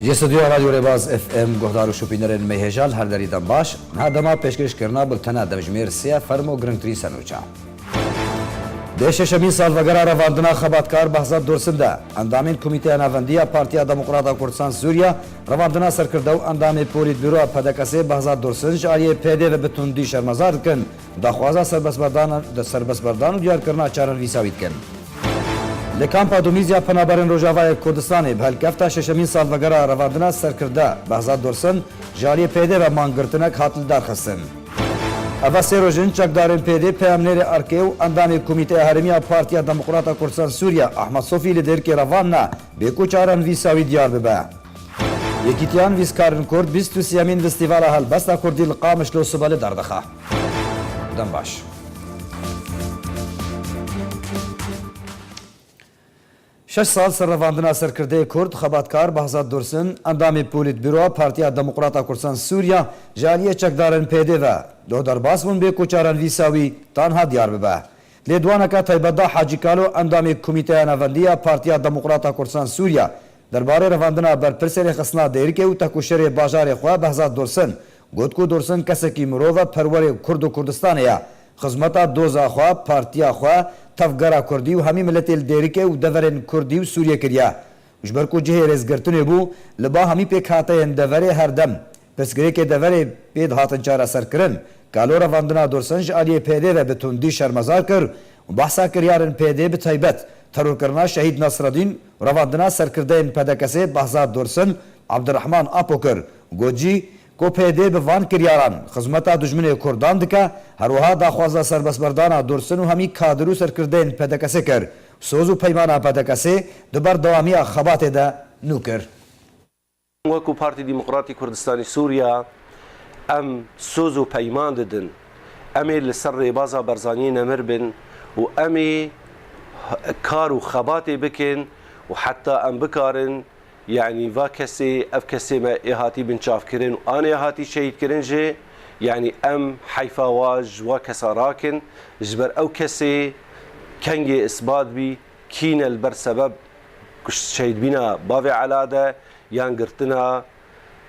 Ji studyoya Radyo Rêbaz FM guhdar û şopînerên mêhêja li her derî dem baş. Niha dema pêşkêşkirina bultena demjimêr sê ye ferm û girngtirîn sernûçe. Dê şeşemîn salvegera revandina xebatkar Behzad Dursun de, endamên Komîteya Navendî ya Partiya Demokrata Kurdistan Sûriye, revandina serkirde û endamê Polîtbûroya PDKS'ê Behzad Dursun ji aliyê PD ve bi tundî şermezar dikin. Daxwaza serbestberdan û diyarkirina çarer vîsa wî dikin. Li Kampa Dumîz ya Penaberên Rojavayê Kurdistanê bi helkefta şeşemîn salvegera revandina serkirda Behzad Dursun ji aliyê PYD'ê ve man girtinek hat li dar xistin. Ev sê roj in çekdarên PYD, peyamnêrê erkê û endamê Komîteya Herêmî ya Partiya Demokrata Kurdistan Sûriya Ahmed Sofî li Dêrkê revandine bê ku çarer vîsa wî diyar bibe. Yekîtiya Nivîskarên Kurd bîst û sêyemîn Festîvala Helbesta Kurdî li Qamişlo Sibelê derdixe. Dem baş. Şeş sal ser revandina serkirdeyê Kurd xebatkar Behzad Dursun, endamê Polîtbûroa Partiya Demokrata Kurdstan Sûriya ji aliyê çekdarên PYD ve doh derbas bûn bê ku çaran vîsa wî tanha diyar bibe. Lêdwaneke taybet da Hacî Kalo endamê Komîteya Navendî ya Partiya Demokrata Kurdstan Sûriya derbarê revandina berpirsê rêxistina Dêrikê û tekoşerê bajarê xwe Behzad Dursun Got ku Dursun kesekî mirov e, perwerê Kurd û Kurdistanê ye. Xizmeta doza xwe, partiya xwe, tevgera Kurdî û hemî miletê li Dêrikê û deverên Kurdî û Sûriyê kiriye. Ji ber ku cihê rêzgirtinê bû, li ba hemî pêkhateyên deverê her dem pirsgirêkê deverê pê dihatin çareserkirin. Kalo revandina Dursun ji aliyê PYD ve bi tundî şermezar kir û behsa kiryarin PYD bi taybet terorkirina Şehîd Nasreddîn û revandina serkirdeyên PDKSê Behzad Dursun, Abdirehman Apo kir Got jî ku PYD bi van kiryaran xizmeta dijminê kurdan dike, her wiha daxwaza serbestberdana Dursun û hemî kadir û serkirdeyên PDK'sê kir. Soz û peymana PDK'sê di berdewamiya xebatê de nû kir. Wekû Partî Demokratî Kurdistanî Sûriya em soz û peyman didin, em ê li ser rêbaza Berzaniyê nemir bin û em ê kar û xebatê bikin û heta em bikarin Yanî va kesê, ev kesê me ê hatî binçavkirin û anê hatî şehîdkirin jî, yanî em heyfa wa ji wa kesa rakin, ji ber ew kesê kengê îsbat bî kî ne li ber sebeb şehîdbîna bavê Ela de yan girtina,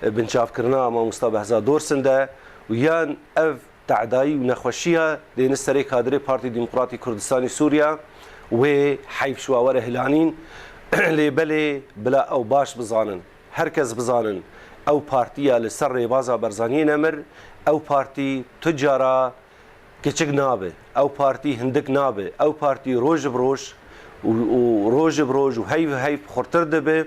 binçavkirina Mamosta Behzad Dorsin de û yan ev Te'dayî û nexweşiya dêne serê kadirê Partî Demokratî Kurdistanî Sûriya, wê heyf ji wan were hilanîn, lê belê bila ew baş bizanin, her kes bizanin, ew partîya li ser rêbaza Berzaniyê nemir, ew partî tu cara kiçik nabe, ew partî hindik nabe, ew partî roj bi roj û roj bi roj û heyv bi heyv xurtir dibe.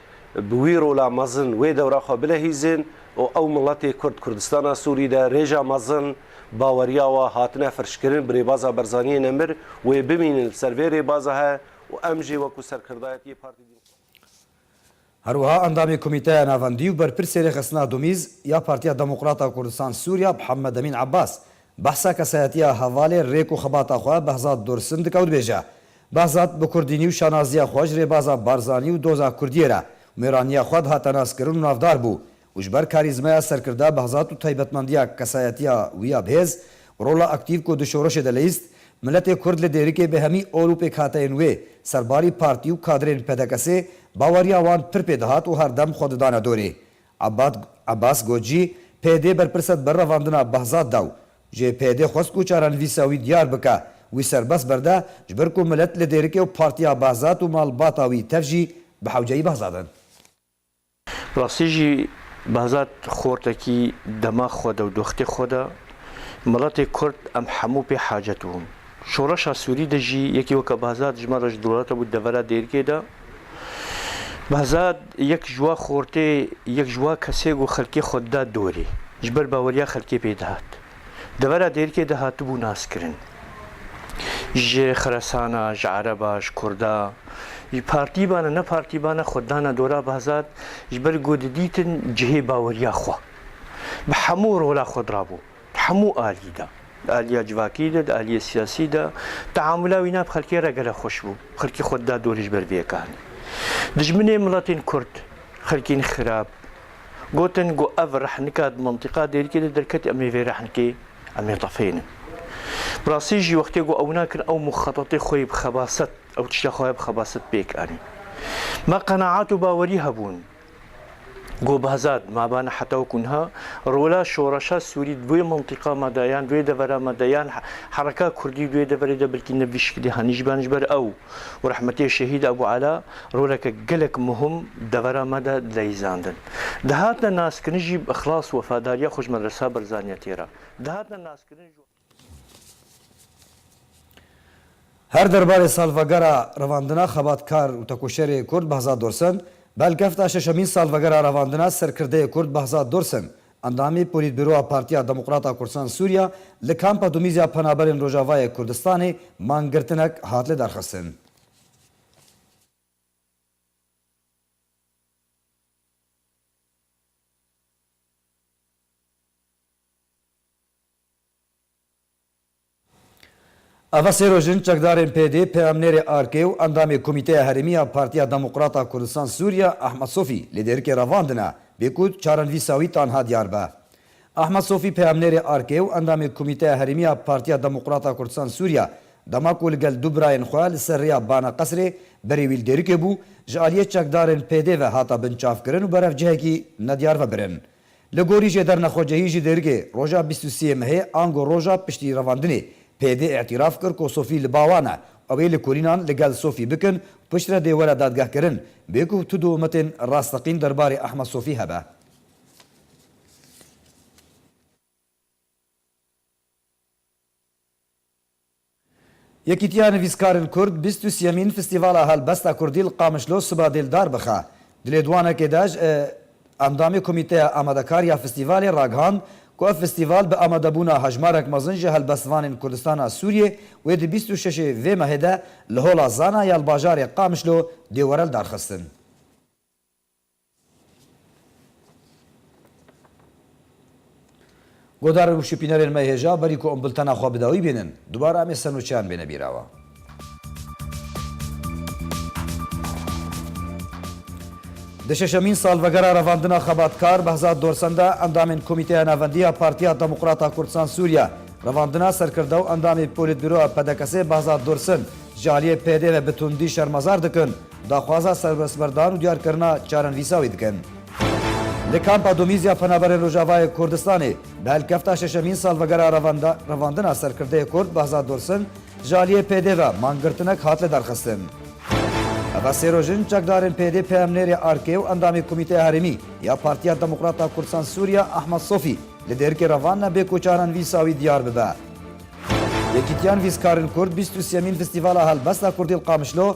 bi wî rola mezin wê dewra xwe bilehîzin û ew miletê Kurd Kurdistana Sûrî de rêja mezin baweriya wa hatine firçkirin bi Rêbaza Barzaniyê Nemir wê bimînin li ser vê rêbaza he û em jî wekû serkirdayetiyê Partî Her wiha endamê Komîteya Navendî û berpirsê Rêxistina Domîz ya Partiya Demokrata Kurdistan Sûrî ya Mihemedemîn Ebas Behsa kesayetiya hevalê rêk û xebata xwe Behzad Dursun dike û dibêje, Behzad bi kurdînî û şanaziya xwe ji rêbaza Barzanî û doza kurdiyê re mêraniya xwe dihate naskirin û navdar bû û ji ber karîzmaya serkirda Behzad û taybetmendiya kesayetiya wî ya bihêz û rola aktîv ku di şorişê de leyîst miletê kurd li dêrikê bi hemî ol û pêkhateyên wê serbarî partî û kadrên PDKSê baweriya wan pir pê dihat û herdem xwe didane dorê Abbad Abbas got jî, PYD berpirse dibe revandina Behzad de û jê PYD xwest ku çarenivîsa wî diyar bike, wî serbest berde ji ber ku milet li dêrikê û partiya Behzad û malbata wî tev jî bi hewceyî Behzad in. Bi rastî jî Behzad xortekî dema xwe de û doxtê xwe de, Miletê Kurd em hemû pê hacet bûn. Şoreşa Sûrî de jî yekî weke Behzad ji me re ji dewleta bû devera dêrgê de. Behzad yek ji wa xortê, yek ji wa kesê ku xelkê xwe dida dorê. Ji ber baweriya xelkê pê dihat. Devera dêrkê de hatibû naskirin. Ji Xeresana, ji Ereba, ji Kurda, ji partî ba ne ne partî ba ne xwe dana dora Behzad ji ber ku didîtin cihê baweriya xwe. Bi hemû rola xwe dirabû. Di hemû aliyî de, di aliya civakî de, di aliyê siyasî de teamûla wî nav xelkê re gelek xweş bû. Xelkê xwe dida dorê ji ber vê yeka hinî dijminê miletên kurd, xelkên xirab gotin ku ev rehnika di mintîqa dêrikê de derketî em ê vê rehnikê em ê tefênin. Bi rastî jî wextê ku ew wina kirin ew muxetetê xwe yê bi xebaset, ew tişta xwe ya bi xebaset pêk anîn. Me qenaat û bawerî hebûn. Got Behzad, Ma bane heta wekû niha rola şoreşa Sûrî di wê mintîqa me de yan di wê devera me de yan hereka Kurdî di wê deverê de bilkî ne bi şikilî hanî jî bane. Ji ber ew û rehmetê Şehîd Ebû Ela roleke gelek muhim di devera me de dileyîzandin. Dihatine naskirin jî bi îxlas û wefadariya xwe ji Medresa Berzaniya têra dihatine naskirin. Her derbarê salvegera revandina xebatkar û tekoşerê Kurd Behzad Dursun, belkefta şeşemîn salvegera revandina serkirdeyê Kurd Behzad Dursun, endamî Polîtbîroya Partiya Demokrata Kurdisan Sûriya li Kampa Dumîzya Penaberên Rojavayê Kurdistanê mangirtinek hat li derxistin. Ava sê roj in çekdarên PD, peyamnêrê ARK'ê û endamê Komîteya Herêmî ya Partiya Demokrat a Kurdistan Sûriya Ahmed Sofî li Dêrikê revandine bê ku çaran vî sawî tanha diyar be. Ahmed Sofî peyamnêrê ARK'ê û endamê Komîteya Herêmî ya Partiya Demokrat a Kurdistan Sûriya dema ku li gel du birayên xwe li ser rêya Bana Qesrê berê wî li Dêrikê bû ji aliyê çekdarên PD ve hata binçavkirin û berev cihekî nediyar ve birin Li gorî jê dernexwecehî ji dêrgê roja bîst û sê mehê ango roja piştî revandinê PD îtîraf kir ku Sofî li ba wan e û ew ê lêkolînan li gel Sofî bikin û piştre dê were dadgehkirin bê ku tu dûumetên rasteqîn derbarê Ehmed Sofî hebe. Yekîtiya Nivîskarên Kurd bîst û sîyemîn Festîvala Helbesta Kurdî li Qamişlo siba dêldar bixe. Di lêdwanekê de ji Endamê Komîteya Amadekar ya Festîvalê ragihand ku ev festîval bi amadebûna hejmarek mezin ji helbestvanên Kurdistana Sûriyê wê di bîst û şeşê vê mehê de li Hola Zana ya li bajarê Qamişlo dê were lidarxistin. Goda rewş û pînerên me hêja berî ku em bultena xwe bi dawî bînin, dubare em ê senûçeyan bêne bîrawa. Di şeşemîn salvegera revandina xebatkar Behzad Dorsen de endamên Komîteya Navendî ya Partiya Demokrata Kurdistan Sûriye revandina serkirde û endamê Polîtbîroya PDKS'ê Behzad Dorsen ji aliyê PD ve bi tundî şermezar dikin. Daxwaza serbestberdar û diyarkirina çarenivîsa wî dikin. Li Kampa Domîzya Penaberên Rojavayê Kurdistanê bi helkefta şeşemîn salvegera revandina serkirdeyê Kurd Behzad Dursun ji aliyê PD ve mangirtinek hat lidarxistin. Ev sê roj in çekdarên PD peyamnêrê ARK'ê û endamê Komîteya Herêmî ya Partiya Demokrata Kurdistan Sûriya Ehmed Sofî li dêrkê revandine bê ku çarenivîsa wî diyar bibe. Yekîtiya Nivîskarên Kurd bîst û sêyemîn Festîvala Helbesta Kurdî li Qamişlo